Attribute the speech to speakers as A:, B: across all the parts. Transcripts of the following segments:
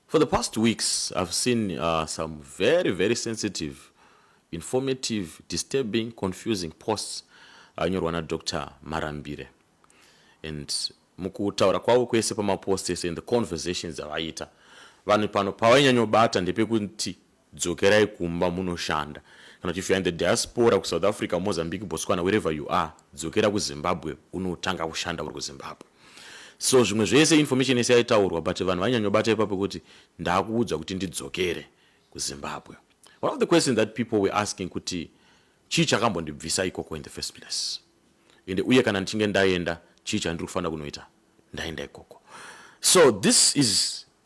A: For the past weeks I've seen uh, some very very sensitive informative disturbing confusing posts anyorwa na Dr. Marambire and mukutaura kwavo kwese pamapost ese and the conversations avaiita vanhu pano pavainyanyobata ndepekuti Dzokerai kumba munoshanda. Kana kuti if you're in the diaspora ku South Africa, Mozambique, Botswana, wherever you are, dzokera ku Zimbabwe unotanga kushanda uri ku Zimbabwe. So zvimwe zvese information yese yaitaurwa but vanhu vainyanyobata ipapo kuti ndakuudzwa kuti ndidzokere ku Zimbabwe. One of the questions that people were asking kuti chii chakambondibvisa ikoko in the first place. Ende uye kana ndichinge ndaenda chii chandiri kufanira kunoita ndaenda ikoko. So this is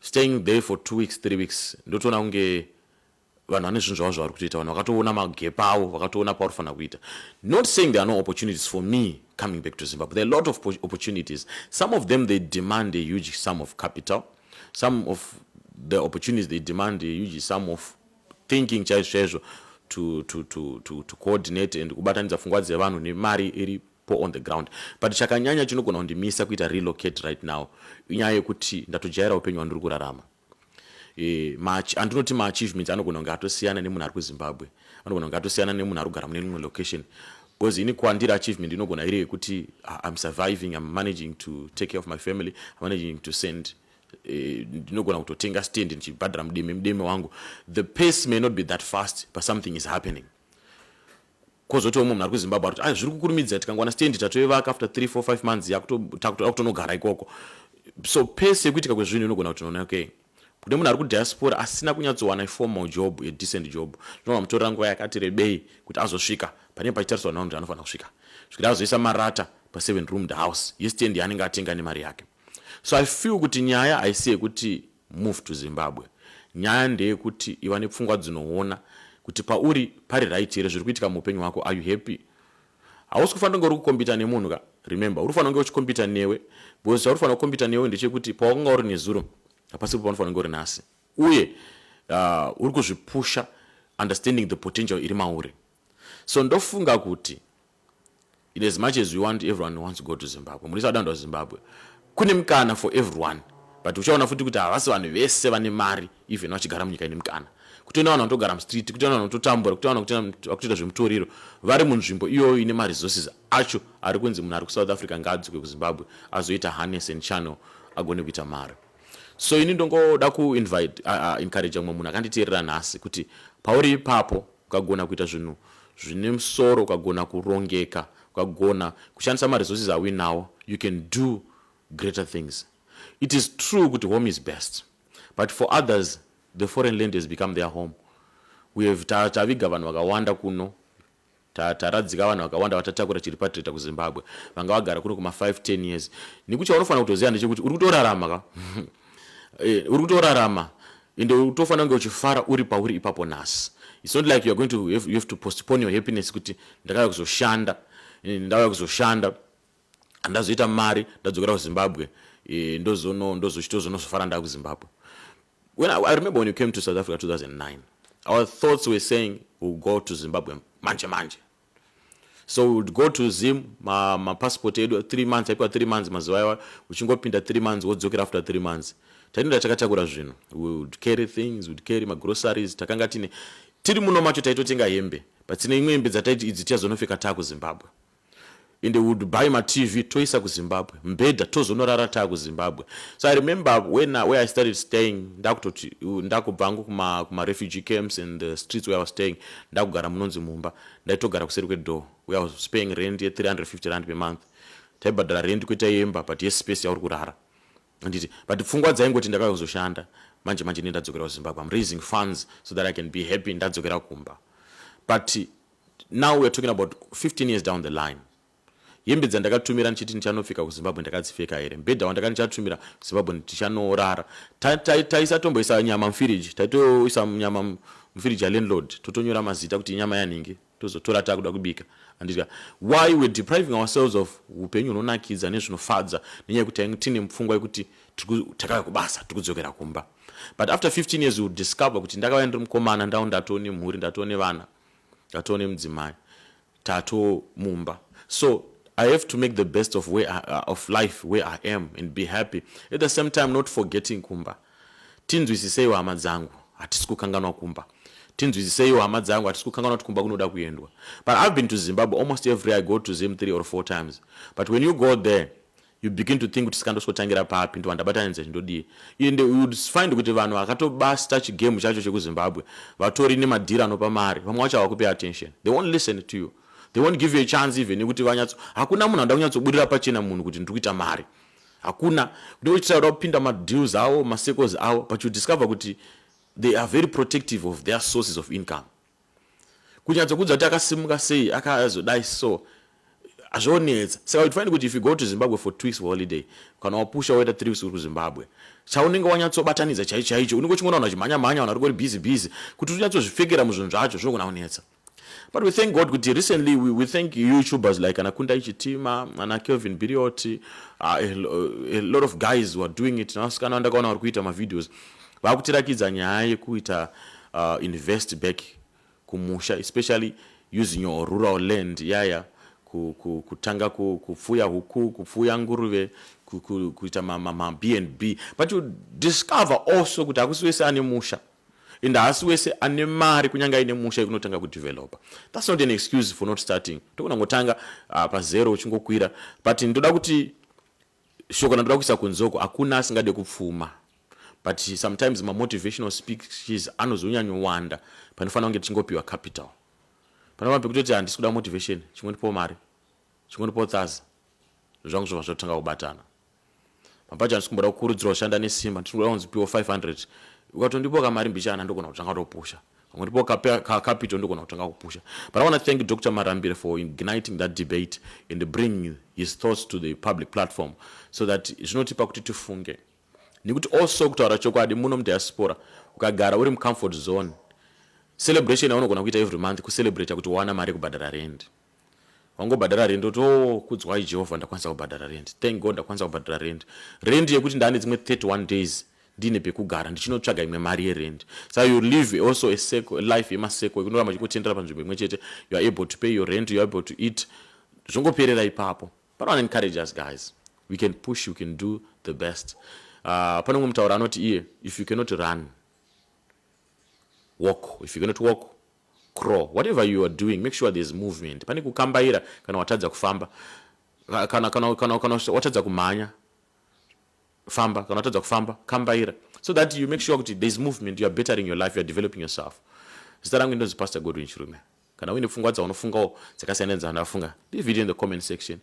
A: staying there for two weeks three weeks ndotoona kunge vanhu vane zvinhu zvavo zvavari kutoita vanhu vakatoona magepa avo vakatoona pauri fanira kuita not saying there are no opportunities for me coming back to zimbabwe there are a lot of opportunities some of them they demand a huge sum of capital some of the opportunities they demand a huge sum of thinking chaizvo chaizvo to, to, to, to, to coordinate and kubatanidza pfungwa dzevanhu nemari iri poor on the ground but chakanyanya chinogona kundimisa kuita relocate right now inyaya yekuti ndatojaira upenyu hwandiri kurarama e, andinoti maachievements anogona kunge atosiyana nemunhu ari kuzimbabwe anogona kunge atosiyana nemunhu ari kugara mune imwe location because ini kwandiri achievement inogona iri yekuti ah, im surviving im managing to take care of my family im managing to send Eh, ndinogona kutotenga stand ndichibhadhara mudeme mudeme wangu the pace may not be that fast but something is happening Kozotiwo munhu ari kuZimbabwe ari kuti ah, zviri kukurumidza tikangowana stand tatoivaka after 3 4 5 months yakutoda kutonogara ikoko. So pese yekuitika kwezvinhu inogona kuti nona okay kune munhu ari kudiaspora asina kunyatsowana iformal job adecent job zvinova mutorera nguva yakati rebei kuti azosvika panenge pachitariswa navanhu kuti anofanira kusvika zvekuti azoisa marata paseven roomed house yestand yaanenge atenga nemari yake so i feel kuti nyaya haisi yekuti Move to Zimbabwe. Nyaya ndeyekuti iva nepfungwa dzinoona kuti pauri pari right here zviri kuitika muupenyu hwako. Are you happy? Hausi kufanira kunge uri kukombita nemunhu ka. Remember, uri kufanira kunge uchikombita newe because chauri kufanira kukombita newe ndechekuti pawakanga uri nezuro hapasipo paunofanira kunge uri nhasi. Uye uh, uri kuzvipusha understanding the potential iri mauri. So ndofunga kuti in as much as we want everyone wants to go to zimbabwe murisa wadandwa kuzimbabwe kune mukana for everyone but uchaona futi kuti havasi vanhu vese vane mari even vachigara munyika ine mukana kutoenda vanhu vanotogara mustreet kutoenda vanhu vanototambura kutoenda vanhu vakutoita zvemutoriro vari munzvimbo iyoyo ine maresources acho ari kunzi munhu ari kusouth africa ngaadzikwe kuzimbabwe azoita harness and channel agone kuita mari so ini ndongoda kuinvite uh, uh, encourage mumwe munhu akanditeerera nhasi kuti pauri ipapo Ukagona kuita zvinhu zvine musoro, ukagona kurongeka, ukagona kushandisa maresources auinawo, you can do greater things. It is true kuti home is best, but for others the foreign land has become their home. We have taviga vanhu vakawanda kuno taradzika vanhu vakawanda vatatakura chiripatirita kuzimbabwe vanga vagara kuno kuma 5 10 years nekuti chaunofanira kutoziva ndechekuti uri kutorarama ka eh, uri kutorarama ende utofanira kunge uchifara uri pauri ipapo nhasi its not like youare going to have, you have to postpone your happiness kuti ndakauya kuzoshanda eh, ndauya kuzoshanda handazoita mari ndadzokera kuzimbabwe eh, ndozono ndozochitozonozofara ndaa kuzimbabwe when I, i remember when you came to south africa 2009 our thoughts were saying will go to zimbabwe manje manje so we would go to zim mapassport ma edu three months aipiwa three months mazuva iwa uchingopinda three months wodzokera after three months tainoda takatakura zvinhu we would carry things would carry magroceries takanga tine tiri muno macho taitotenga hembe but tine imwe hembe dzataiti idzi tichazonopfeka taa kuzimbabwe ende we would buy matv toisa kuzimbabwe mbhedha tozonorara taa kuzimbabwe so i remember when, where i started staying ndakutoti ndakubva angu kumarefugee kuma camps and the streets where i was staying ndakugara munonzi mumba ndaitogara kuseri kwedoor where i was paying rent ye 350 rand per month taibhadhara rent kweta yemba but yespace yauri kurara anditi but pfungwa dzaingoti ndakazoshanda manje manje ndendadzokera kuzimbabwe am raising funds so that i can be happy ndadzokera kumba but now weare talking about 15 years down the line hembe dzandakatumira ndichiti ndichanopfeka kuzimbabwe ndakadzipfeka here mbhedha wandaka ndichatumira zimbabwe ndichanorara taisatomboisa ta, ta, nyama mufiriji taitoisa nyama mufiriji yalandlord totonyora mazita kuti inyama yanhingi tozotora takuda kubika anditya why we're depriving ourselves of upenyu hunonakidza nezvinofadza nenyaya yekuti tine mupfungwa yekuti takauya kubasa tiri kudzokera kumba but after 15 years will discover kuti ndakauya ndiri mukomana ndau ndatone mhuri ndatone vana tatoo nemudzimai tatoo mumba so i have to make the best of, where I, uh, of life where i am and be happy at the same time not forgetting kumba tinzwisiseiwo hama dzangu hatisi kukanganwa kumba tinzwisiseiwo hama dzangu hatisi kukanganwa kuti kumba kunoda kuendwa but i've been to zimbabwe almost every i go to zim three or four times but when you go there you begin to think kuti saka ndosikotangira papi ndova ndabatanidza zvindodii and you would find kuti vanhu vakatobasta chigame chacho chekuzimbabwe vatori nemadhiri anopa mari vamwe vacho havakupe attention they won't listen to you they won't give you a chance even yekuti vanyatso hakuna munhu anoda kunyatsobudirira pachena munhu kuti ndiri kuita mari hakuna kuti vochitira kuda kupinda madeals avo macircles avo but you discover kuti they are very protective of their sources of income kunyatsokuudza kuti akasimuka sei akazodai so hazvionetsa saka uchifanira kuti if you go to zimbabwe for two weeks for holiday kana wapusha woita three weeks uri kuzimbabwe chaunenge wanyatsobatanidza chaicho chaicho unenge uchingona vanhu vachimhanya mhanya vanhu varikori busy busy kuti unyatsozvipfekera muzvinhu zvacho zvinogona kunetsa but we thank god kuti recently we, we thank youtubers like ana kunda ichitima ana kelvin birioti uh, a, a lot of guys were doing it navasikana vandakaona vari kuita mavideos Vakutirakidza nyaya yekuita uh, invest back kumusha especially using your rural land yaya kutanga kupfuya huku kupfuya nguruve kuita mabnb but you discover also kuti hakusi wese ane musha and haasi wese ane mari kunyange aine musha yekunotanga kudevelopa thats not an excuse for not starting tokunangotanga uh, pazero uchingokwira but ndoda kuti shoko randoda kuisa kunze uko hakuna asingade kupfuma but sometimes mamotivational speeches anozonyanyowanda panofanira kunge tichingopiwa capital panova pekutoti handisi kuda motivation chingondipo mari chingondipo thaza zvangu zvova zvotanga kubatana mapacho handisi kumboda kukurudzirwa kushanda nesimba ndinoda kunzi piwo 500 ukatondipoka mari mbichana ndogona kutanga topusha pamwe ndipo capital ndogona kutanga kupusha but i want to thank dr marambire for igniting that debate and bring his thoughts to the public platform so that zvinotipa kuti tifunge nekuti also kutaura chokwadi muno mudiaspora ukagara uri mucomfort zone celebration yaunogona kuita every month kucelebrata kuti wawana mari yekubhadhara rendi wangobhadhara rent oti oh kudzwai jehovha ndakwanisa kubhadhara rent thank god ndakwanisa kubhadhara rent rent yekuti ndaane dzimwe 31 days ndiine pekugara ndichinotsvaga imwe mari yerent sa you live also a circle, a life yemaseko yekunoramba chikutendera panzvimbo imwe chete you are able to pay your rent you are able to eat zvongoperera ipapo but one encourage us guys we can push we can do the best uh, pane umwe mutauro anoti iye if you cannot run walk if you cannot walk Crawl. Whatever you are doing, make sure there's movement. Pane kukambaira kana watadza kufamba. Kana, kana, kana, kana watadza kumhanya, famba. Kana watadza kufamba, kambaira. So that you make sure kuti there's movement, you are bettering your life, you are developing yourself. Zita rangu ndonzi Pastor Godwin Chirume. Kana uine pfungwa dzaunofungawo dzakasiyana nedzavanofunga, leave it in the comment section.